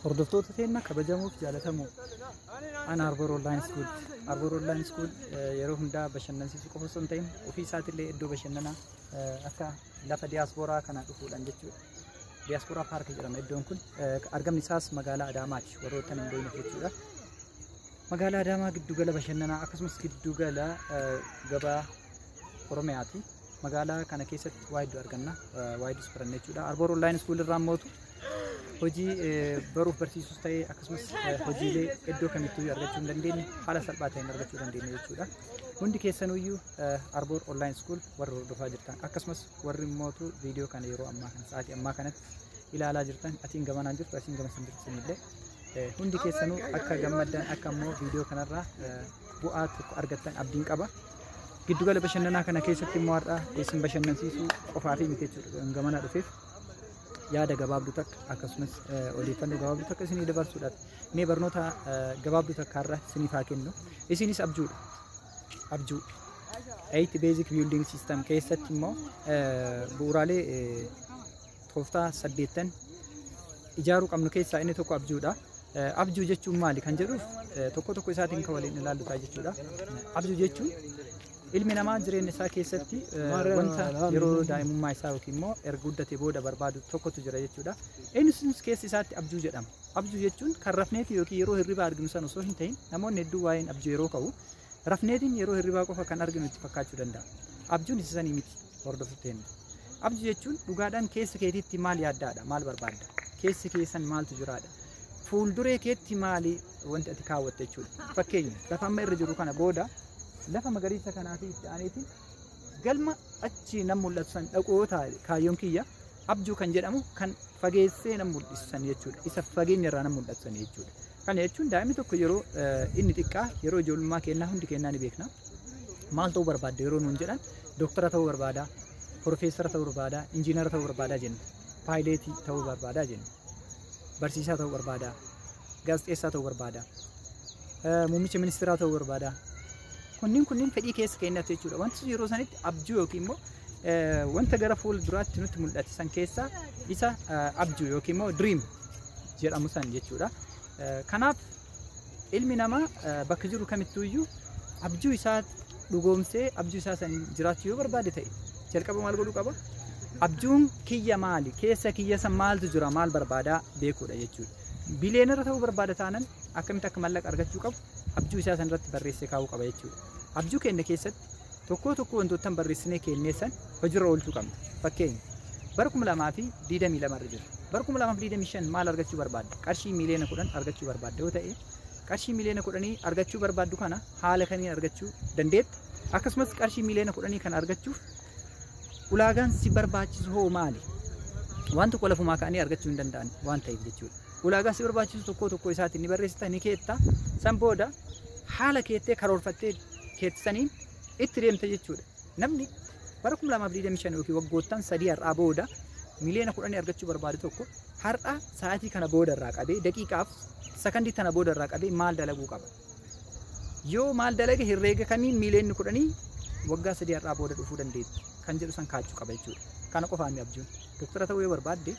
Hordoftoota keenya kabajamoo fi jaallatamoo an Arbor Online School. Arbor Online School eh, yeroo hundaa bashannansiisuu qofa osoo hin ta'in ofii isaatiillee iddoo bashannanaa eh, akka lafa diyaaspooraa kana dhufuudhaan jechuudha. Diyaaspooraa paarkii jedhama iddoon kun. Eh, Argamni isaas magaalaa Adaamaati warroota hin beekne jechuudha. Magaalaa Adaamaa giddugala bashannanaa akkasumas giddugala eh, gabaa Oromiyaati. Magaalaa kana keessatti waa hedduu arganna. Waa hedduus baranna jechuudha. Arboor Online School irraa mootu hojii eh, baruuf barsiisuus ta'ee akkasumas eh, hojiilee iddoo kamittuu argachuu hin dandeenye haala salphaa ta'een argachuu dandeenya jechuudha. Hundi keessanuyyuu eh, Arboor Online School warri hordofaa jirtan akkasumas warri mootu viidiyoo kana yeroo ammaa kana sa'aatii ammaa kanatti ilaalaa jirtan asiin gamanaan jirtu asiin gama isin jirtu illee hundi keessanuu akka gammaddan akka immoo viidiyoo kanarraa eh, bu'aa tokko argattan abdiin qaba. Giddugala bashannanaa kana keessatti immoo har'a isin bashannansiisuu qofaa fi miti jechuudha gamana dhufeef yaada gabaabduu takka akkasumas odeeffannoo gabaabduu takka isinii dabarsuudhaaf mee barnoota gabaabduu takka har'a isiniif haa kennu isinis abjuudha abjuu eight basic building system keessatti immoo bu'uuraalee Tooftaa saddeettan ijaaruu qabnu keessaa inni tokko abjuudha. Abjuu jechuun maali kan jedhuuf tokko tokko isaatiin kan waliin ilaallu ta'a jechuudha. Abjuu jechuun ilmi namaa jireenya isaa keessatti wanta yeroo daa'imummaa isaa yookiin immoo erga guddatee booda barbaadu tokkotu jira jechuudha. Innis keessa isaatti abjuu jedhama. Abjuu jechuun kan rafneeti yookiin yeroo hirribaa arginu san osoo hin ta'in namoonni hedduu waa'een abjuu yeroo ka'u Rafneetiin yeroo hirribaa qofa kan arginu itti fakkaachuu danda'a. Abjuun isa sanii miti hordofu keenya. Abju jechuun dhugaadhaan keessa keetiitti maal yaaddaadha? Maal barbaadda? Keessa keessan maaltu jiraadha? Fuulduree keetti maali wanti ati kaawwatte jechuudha. Fakkeenya lafa amma irra jiru kana booda lafa magariisa kanaa fi itti aaneetiin galma achi nan mul'atu san dhaquu yoo taa'e kaayyoon kiyya abjuu kan jedhamu kan fageessee nan mul'isu san jechuudha. Isa fageenya irraa nan mul'atu san jechuudha. Kana jechuun daa'imni tokko yeroo inni xiqqaa yeroo ijoollummaa kennaa hundi kennaa ni beekna. Maal ta'uu barbaadda yeroo nuun jedhan dooktara ta'uu barbaada, profeesara ta'uu barbaada, injiinara ta'uu barbaada jenna. Paayileetii ta'uu barbaada jenna. Barsiisaa ta'uu barbaada, gaazexeessaa ta'uu barbaada, muummicha ministeeraa ta'uu barbaada. Kunniin kunniin fedhii keessa keenyatti jechuudha. Wanti yeroo sanitti abjuu yookiin immoo wanta gara fuula duraatti nutti mul'ate san keessaa isa abjuu yookiin immoo dream jedhamu san jechuudha. Kanaaf ilmi namaa bakka jiru kamittuu iyyuu abjuu isaa dhugoomsee abjuu isaa san jiraachuu yoo barbaade ta'e jalqaba maal godhuu qaba? Abjuun kiyya maali? Keessa kiyya san maaltu jira? Maal barbaadaa beekuudha jechuudha. Biliyeenara ta'uu barbaada taanan akkamitti akka mallaqa argachuu qabu abjuu isaa san irratti barreessee kaa'uu qaba jechuudha. Abjuu keenya keessatti Tokkoo tokkoo wantoottan barreessinee keennee san hojirra oolchuu qabna. Fakkeenya bara 2022 irra jirra. Bara 2025 maal argachuu barbaadda? Qarshii miiliyoona 10 argachuu barbaadda yoo ta'e qarshii miiliyoona 10 argachuu barbaaddu kana haala kamiin argachuu dandeetta? Akkasumas qarshii miiliyoona 10 kana argachuuf ulaagaan si barbaachisu hoo maali? Waan tokko lafumaa ka'anii argachuu hin danda'an waan ta'eef jechuudha. ulaagaa si barbaachisu tokkoo tokkoo isaatiin ni barreessita ni keetta san booda haala keettee karoorfattee keette saniin itti deemta jechuudha. Namni bara 2025 yookiin waggoottan sadii har'aa booda miliyoona kudhanii argachuu barbaadu tokko har'a sa'aatii kana booda irraa qabee daqiiqaaf sakandii tana booda irraa qabee maal dalaguu qaba? yoo maal dalage herreega kamiin miiliyoonni kudhanii waggaa sadii har'aa booda dhufuu dandeetti kan jedhu san kaachuu qaba jechuudha. Kana qofaan ni abjuun. Doktara ta'uu yoo barbaadde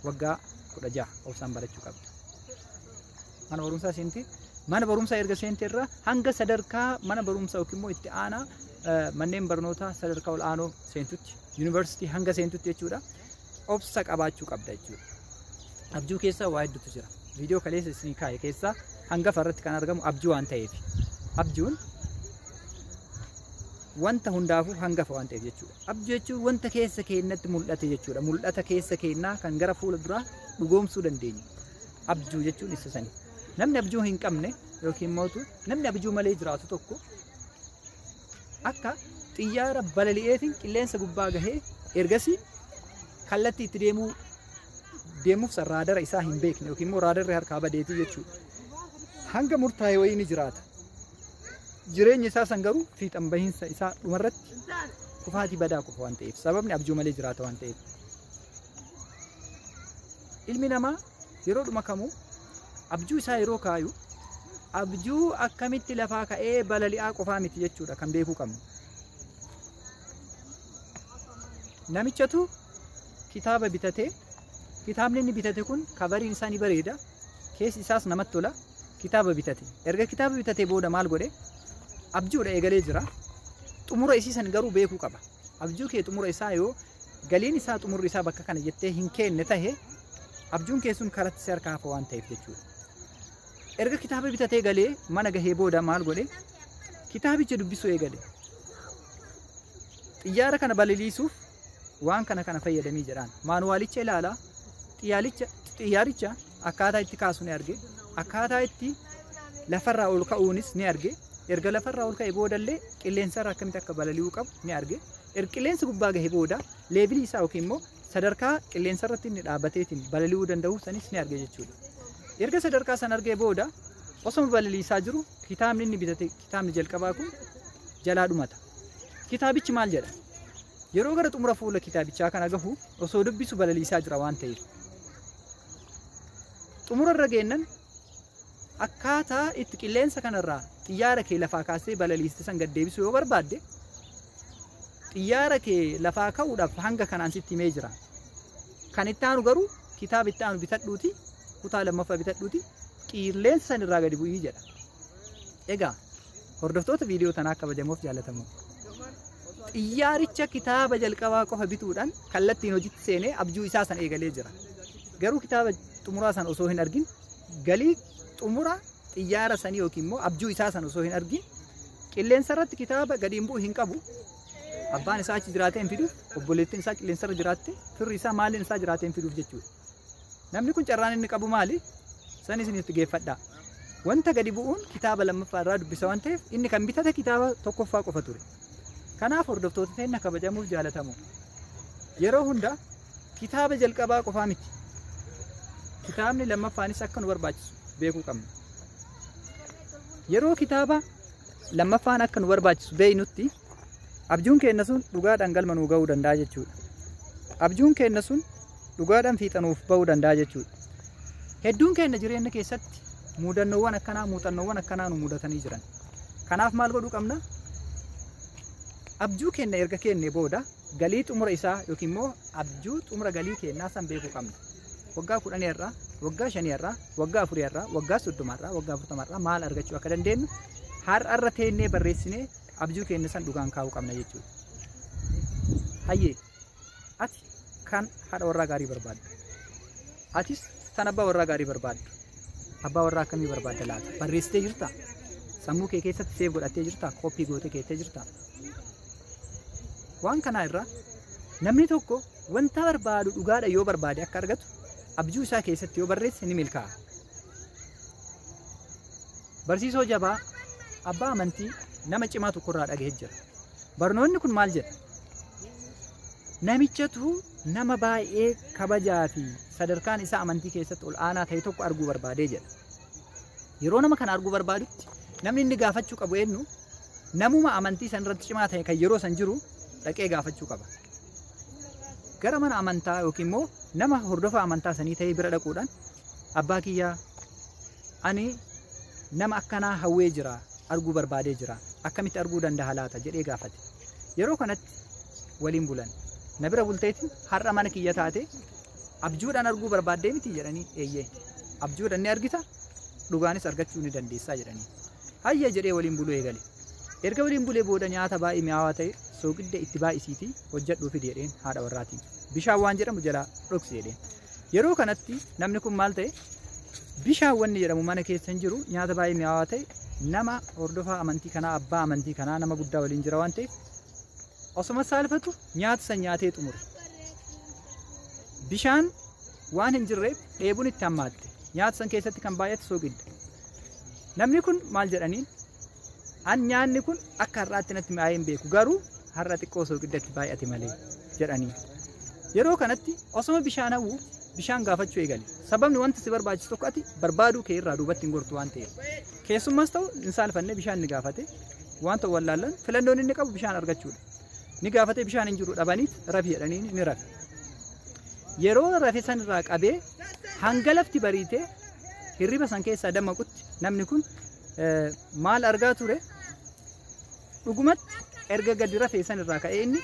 waggaa kudha jaha obsaan barachuu qabda. Mana barumsaa seentee mana barumsaa erga seentee irraa hanga sadarkaa mana barumsaa yookiin immoo itti aanaa eh, manneen barnootaa sadarkaa ol'aanoo seentutti Yuunivarsiitii hanga seentutti jechuudha. Obsa qabaachuu qabda jechuudha. Abjuu keessa waa hedduutu jira. Viidiyoo kaleessa isin kaa'e keessaa hangafa irratti kan argamu abjuu waan ta'eef. Abjuun wanta hundaafuu hangafa waan ta'eef jechuudha. Abjuu jechuun wanta keessa keenyatti mul'ate jechuudha. Mul'ata keessa keenyaa kan gara fuula duraa dhugoomsuu dandeenyu. Abjuu jechuun isa sani. Namni abjuu hin qabne yookiin mootu namni abjuu malee jiraatu tokko akka xiyyaara balali'eetiin qilleensa gubbaa gahee ergasii kallattii itti deemuu deemuuf san raadara isaa hin beekne yookiin immoo raadarri harkaa badeetii jechuudha. Hanga murtaa'e wayii ni jiraata. Jireenya isaa san garuu fiixan bahiinsa isaa dhumarratti kufaatii badaa qofa waan ta'eef sababni abjuu malee jiraata waan ta'eef. Ilmi namaa yeroodhuma kamuu abjuu isaa yeroo kaayu abjuu akkamitti lafaa ka'ee balali'aa qofaa miti jechuudha kan beekuu qabnu. Namichatu kitaaba bitatee kitaabni inni bitate kun kabariin isaa ni bareeda keessi isaas namatti tola kitaaba bitate erga kitaaba bitate booda maal godhe abjuudha eegalee jira xumura isii san garuu beekuu qaba abjuu kee xumura isaa yoo galiin isaa xumurri isaa bakka kana jettee hin keenne tahe Abjuun kee sun karatti si harkaa hafa waan ta'eef jechuudha. Erga kitaaba bitatee galee mana gahee booda maal godhe? Kitaabicha dubbisuu eegale. Xiyyaara kana balaliisuuf waan kana kana fayyadamii jedhaan. Maanuwaalicha ilaalaa xiyyaalicha xiyyaaricha akkaataa itti kaasu ni arge. Akkaataa itti lafarraa ol ka'uunis ni arge. Erga lafarraa ol ka'e boodallee qilleensarra akkamitti akka balali'uu qabu ni arge. Erga qilleensa gubbaa gahe booda leebilii isaa yookiin immoo sadarkaa qilleensa irratti inni dhaabbateetiin balali'uu danda'u sanis ni arge jechuudha. Erga sadarkaa san argee booda osoma balaliisaa jiru kitaabni inni bitate kitaabni jalqabaa kun jalaa dhumata. Kitaabichi maal jedha? Yeroo gara xumura fuula kitaabichaa kana gahu osoo dubbisu balaliisaa jira waan ta'eef. Xumura irra geennan Akkaataa itti qilleensa kanarraa xiyyaara kee lafaa kaastee balaliiste san gad deebisuu yoo barbaadde xiyyaara kee lafaa ka'uudhaaf hanga kanaan sitti himee jira. Kan itti aanu garuu kitaaba itti aanu bitadhuuti kutaa lammaffaa bitadhuuti qilleensa san irraa gadi bu'ii jedha. Egaa Hordoftoota viidiyoo tanaa kabajamoof jaalatamoo. Xiyyaaricha kitaaba jalqabaa qofa bituudhaan kallattiin hojitti seenee abjuu isaa san eegalee jira. Garuu kitaaba xumuraa san osoo hin argin galii xumura xiyyaara sanii yookiin immoo abjuu isaa san osoo hin argin qilleensa irratti kitaaba gadi hin bu'u hin qabu. Abbaan isaa achi jiraatee hin fidu, obboleettiin isaa qilleensa irra jiraatte, firri isaa maaliin isaa jiraatee hin fiduuf jechuudha. Namni kun carraan inni qabu maali? San isin itti geeffadhaa. Wanta gadi bu'uun kitaaba lammaffaa irraa dubbisa waan ta'eef inni kan bitate kitaaba tokkoffaa qofa ture. Kanaaf hordoftoota teenna kabajamuuf jaalatamu. Yeroo hunda kitaaba jalqabaa qofaa miti. Kitaabni lammaffaanis akka nu barbaachisu beekuu qabna. Yeroo kitaaba lammaffaan akka nu barbaachisu beeknutti Abjuun keenna sun dhugaadhaan galma nuu ga'uu danda'a jechuudha. Abjuun keenna sun dhugaadhaan fiixa nuuf ba'uu danda'a jechuudha. Hedduun keenna jireenya keessatti muudannoowwan akkanaa muuxannoowwan akkanaa nu mudatanii jiran. Kanaaf maal godhuu qabna? Abjuu keenna erga keennee booda galii xumura isaa yookiin immoo abjuu xumura galii keennaa san beekuu qabna. Waggaa kudhanii irraa, waggaa shanii irraa, waggaa afurii irraa, waggaa soddoma irraa, waggaa afurtama irraa maal argachuu akka dandeenyu har'a irra teennee barreessinee abjuu keenya san dhugaan kaa'uu qabna jechuudha. Hayyee ati kan haadha warraa gaarii barbaaddu atis kan abbaa warraa gaarii barbaaddu abbaa warraa akkamii barbaadda laata barreessitee jirta sammuu kee keessatti seef godhattee jirta kooppii gootee keessee jirta waan kanaa irraa namni tokko wanta barbaadu dhugaadha yoo barbaade akka argatu abjuu isaa keessatti yoo barreesse ni milkaa'a. Barsiisoo jabaa abbaa amantii nama cimaa tokko irraa dhagahee jira. Barnoonni kun maal jedha? Namichatu nama baay'ee kabajaa fi sadarkaan isaa amantii keessatti ol aanaa ta'e tokko arguu barbaadee jedha. Yeroo nama kana arguu barbaadutti namni inni gaafachuu qabu eenyu? Namuma amantii san irratti cimaa ta'e kan yeroo san jiru dhaqee gaafachuu qaba. Gara mana amantaa yookiin immoo nama hordofa amantaa sanii ta'ee bira dhaquudhaan Abbaa kiyya ani nama akkanaa hawwee jira arguu barbaadee jira akkamitti arguu dandaha laata jedhee gaafate yeroo kanatti waliin bulan na bira bulteeti har'a mana kiyya taate abjuudhaan arguu barbaaddee miti jedhanii eeyyee abjuudhaan ni argita dhugaanis argachuu ni dandeessaa jedhanii hayya jedhee waliin buluu eegale erga waliin bulee booda nyaata baay'ee mi'aawaa ta'e sooqidda itti baay'isiitii hojjedhuu fidi jedheen haadha warraatiin bishaan waan jedhamu jalaa dhoksi jedheen Yeroo kanatti namni kun maal ta'e? Bishaan wanni jedhamu mana keessa hin jiru, nyaata baay'ee mi'aawaa ta'e, nama hordofaa amantii kanaa, abbaa amantii kanaa, nama guddaa waliin jira waan ta'eef osoma saalfatu nyaata san nyaatee xumure. Bishaan waan hin jirreef dheebuun itti hammaatte. Nyaata san keessatti kan baay'ate soogidda. Namni kun maal jedhaniin? An nyaanni kun akka har'aatti natti mi'aa'ee hin beeku garuu har'a xiqqoo sooqiddatti baay'ate malee jedhanii. Yeroo kanatti osoma bishaan hawwu bishaan gaafachuu eegale. Sababni wanta si barbaachisu tokko ati barbaaduu kee irraa duubatti hin gortu waan ta'eef. Keessummas ta'u hin saalfanne bishaan ni gaafate. Wanta wallaallan filannoon inni qabu bishaan argachuudha. Ni gaafate bishaan hin jiru dhabaniit rafi jedhanii ni rafe. Yeroo rafe san irraa qabee hanga lafti bariitee hirriba san keessaa damaqutti namni kun maal argaa ture dhugumatti erga gadi rafee san irraa ka'ee inni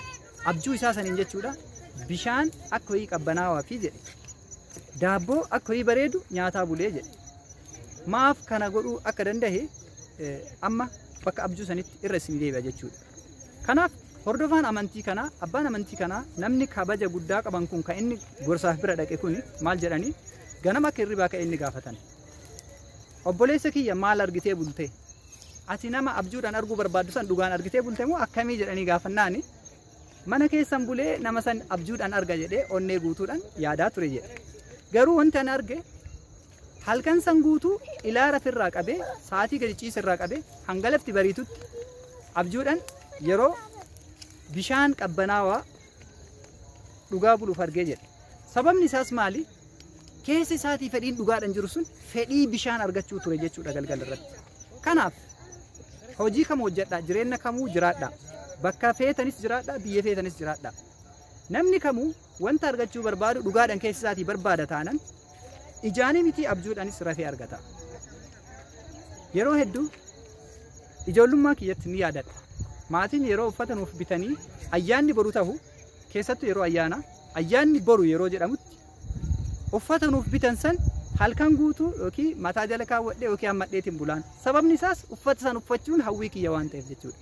abjuu isaa saniin jechuudha bishaan akka ho'ii qabbanaawaa fi jedhe daabboo akka ho'ii bareedu nyaataa bulee jedhe maaf kana godhuu akka danda'e eh, amma bakka abjuu sanitti irra isin deebi'a jechuudha. Kanaaf hordofaan amantii kanaa abbaan amantii kanaa namni kabaja guddaa qaban kun kan inni gorsaaf bira dhaqe kun maal jedhanii ganama akka hirribaa ka'e inni gaafatan. Obboleessa kiyya maal argitee bulte? Ati nama abjuudhaan arguu barbaaddu san dhugaan argitee bulte moo akkamii jedhanii gaafannaani? Mana keessan bulee nama san abjuudhaan arga jedhee onnee guutuudhaan yaadaa ture jedhe. Garuu wanti an arge halkan san guutuu ilaa rafirraa qabee sa'aatii gadi ciisirraa qabee hanga lafti bariitutti abjuudhaan yeroo bishaan qabbanaawaa dhugaa buluuf argee jedhe. Sababni isaas maali? Keessa isaatii fedhiin dhugaadhaan jiru sun fedhii bishaan argachuu ture jechuudha galgala irratti. Kanaaf hojii kam hojjedhaa jireenya kamuu jiraadhaa bakka feetanis jiraadhaa biyya feetanis jiraadhaa. Namni kamuu wanta argachuu barbaadu dhugaadhaan keessa isaatii barbaada taanan ijaanii miti abjuudhaanis rafee argata. Yeroo hedduu ijoollummaa kiyyatti ni yaadadha. Maatiin yeroo uffata nuuf bitanii ayyaanni boru tahu keessattu yeroo ayyaanaa ayyaanni boru yeroo jedhamutti uffata nuuf bitan san halkan guutuu yookiin mataa jala kaawwadhee yookiin hammadheetiin bulaan sababni isaas uffata san uffachuun hawwii kiyya waan ta'eef jechuudha.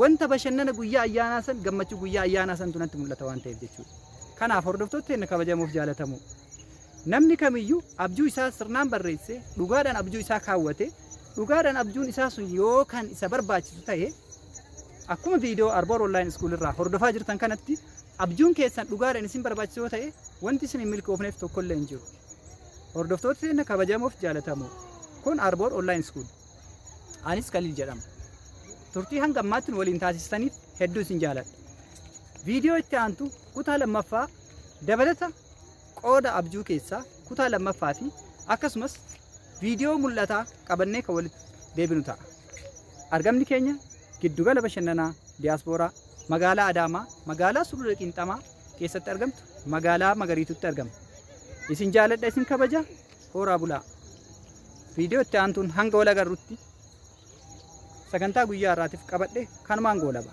Wanta bashannana guyyaa ayyaanaa san gammachuu guyyaa ayyaanaa santu natti mul'ata waan ta'eef jechuudha. Kanaaf hordoftoota keenya kabajamoof jaalatamoo namni kamiyyuu abjuu isaa sirnaan barreessee dhugaadhaan abjuu isaa kaawwate dhugaadhaan abjuun isaa sun yoo kan isa barbaachisu ta'e Akkuma viidiyoo Arboor Online School irraa hordofaa jirtan kanatti abjuun keessan dhugaadhaan isin barbaachisu yoo ta'e wanti isin hin milkoofneef tokkollee hin jiru. Hordoftoota keenya kabajamoof jaalatamoo kun Arboor Online School. Anis Khalil jedhama. Turtii hanga ammaatti nu waliin taasistaniif hedduu isin jaaladha. Viidiyoo itti aantu kutaa lammaffaa dabalata qooda abjuu keessaa kutaa lammaffaa fi akkasumas viidiyoo mul'ataa qabannee kan walitti deebinu ta'a. Argamni keenya Giddugala Bashannanaa Diyaaspooraa Magaalaa Adaamaa, Magaalaa Sulula Qiinxamaa keessatti argamtu Magaalaa Magariitutti argama. Isin jaaladha isin kabaja, hooraa bulaa. Viidiyoo itti aantuun hanga wal agarrutti sagantaa guyyaa har'aatiif qabadhe kanumaan goolaba.